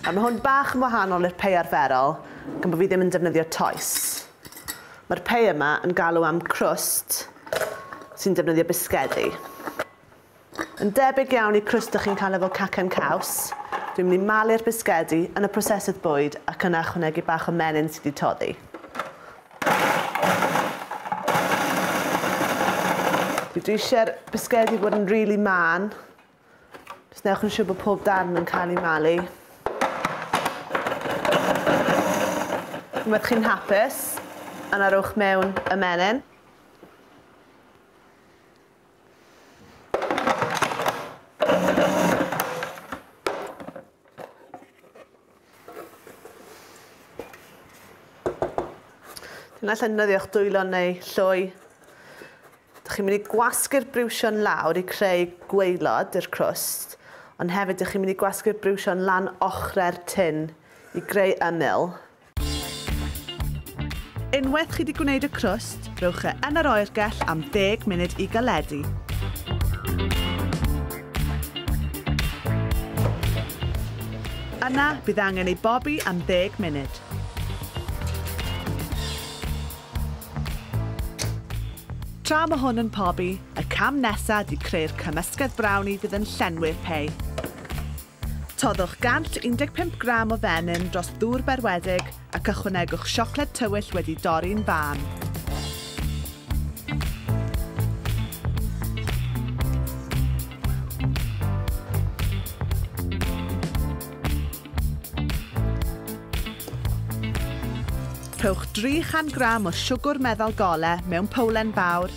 A mae hwn bach yn wahanol i'r pei arferol, gan bod fi ddim yn defnyddio toes. Mae'r pei yma yn galw am crwst sy'n defnyddio bisgedi. Yn debyg iawn i crwst ydych chi'n cael efo cacen caws, dwi'n mynd i malu'r bisgedi yn y prosesydd bwyd ac yna chwnegu bach o menyn sydd wedi toddi. Dwi eisiau'r bisgedi fod yn rili really man, Just newch yn siŵr bod pob darn yn cael ei malu. Unwaith chi'n hapus, yna rowch mewn y menyn. Dyna llynyddiwch dwylo neu lloi. Dych chi'n mynd i gwasgu'r briwsion lawr i creu gweilod i'r crwst, ond hefyd dych chi'n mynd i gwasgu'r briwsion lan ochrau'r tin i greu ymyl. Unwaith chi wedi gwneud y crwst, Rhowch e yn yr oergell am 10 munud i galedu. Yna, bydd angen ei bobi am 10 munud. Tra mae hwn yn pobi, y cam nesaf ydy creu'r cymysgedd brownie fydd yn llenwi'r pei. Toddwch 115 gram o fenyn dros ddŵr berwedig ac ychwanegwch siocled tywyll wedi dorri'n fân. Rhowch 300 gram o siwgwr meddal gole mewn powlen fawr,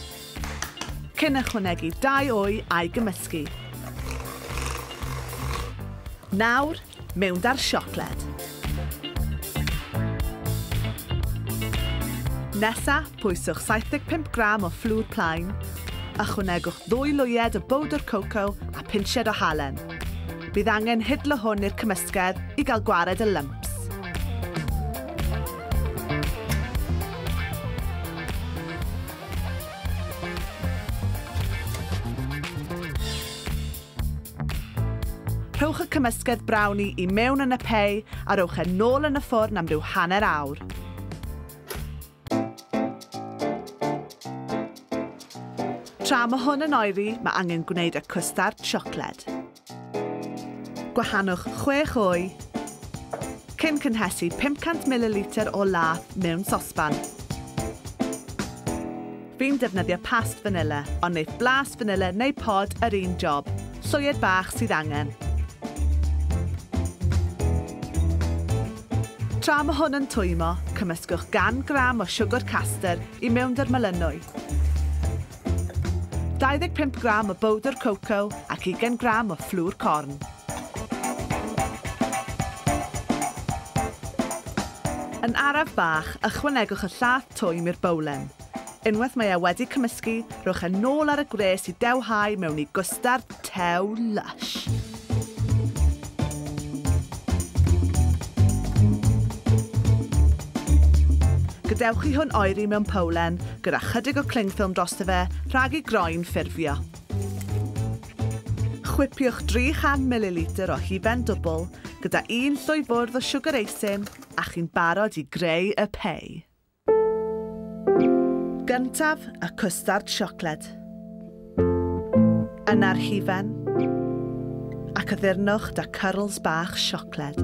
Cyn ychwanegu dau wy a'i gymysgu. Nawr, mewn 'da'r siocled. Nesa, pwyswch 75 gram o fflwd plaen. Ychwanegwch ddwy lwyed o bowdr coco a phinsied o halen. Bydd angen hidlo hwn i'r cymysgedd i gael gwared y lymps. Rhowch y cymysgedd brownie i mewn yn y pei a rowch e nôl yn y ffwrn am ryw hanner awr. Tra mae hwn yn oeri, mae angen gwneud y cwstard siocled. Gwahannwch chwech o'i Cyn cynhesu 500 mililitr o la mewn sosban. Fi'n defnyddio past fanilla, ond neith blas fanilla neu pod yr un job. Soied bach sydd angen. Tra mae hwn yn twymo, cymysgwch gan gram o siwgr caster i mewn dy'r melynwy. 25 gram o bowdr coco ac ugain gram o fflwr corn. Yn araf bach, ychwanegwch y llath twym i'r bowlen. Unwaith mae e wedi cymysgu, rhowch e nôl ar y gwres i dewhau mewn i gwstard, Tew Lush. Gadewch i hwn oeri mewn powlen gyda chydig o cling film drosto fe rhag i groen ffurfio. Chwipiwch 300 mililitr o hufen dwbl gyda un llwy fwrdd o siwgr eisin a chi'n barod i greu y pei. Gyntaf y cwstard siocled. Yna'r hufen. Ac addurnwch da cyrls bach siocled.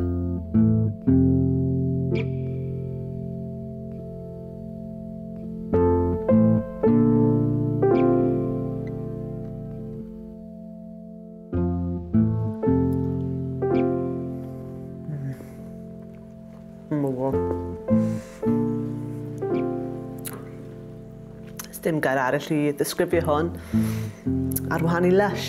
Mwgo. Dim gair arall i ddisgrifio hwn. Ar wahan i lush.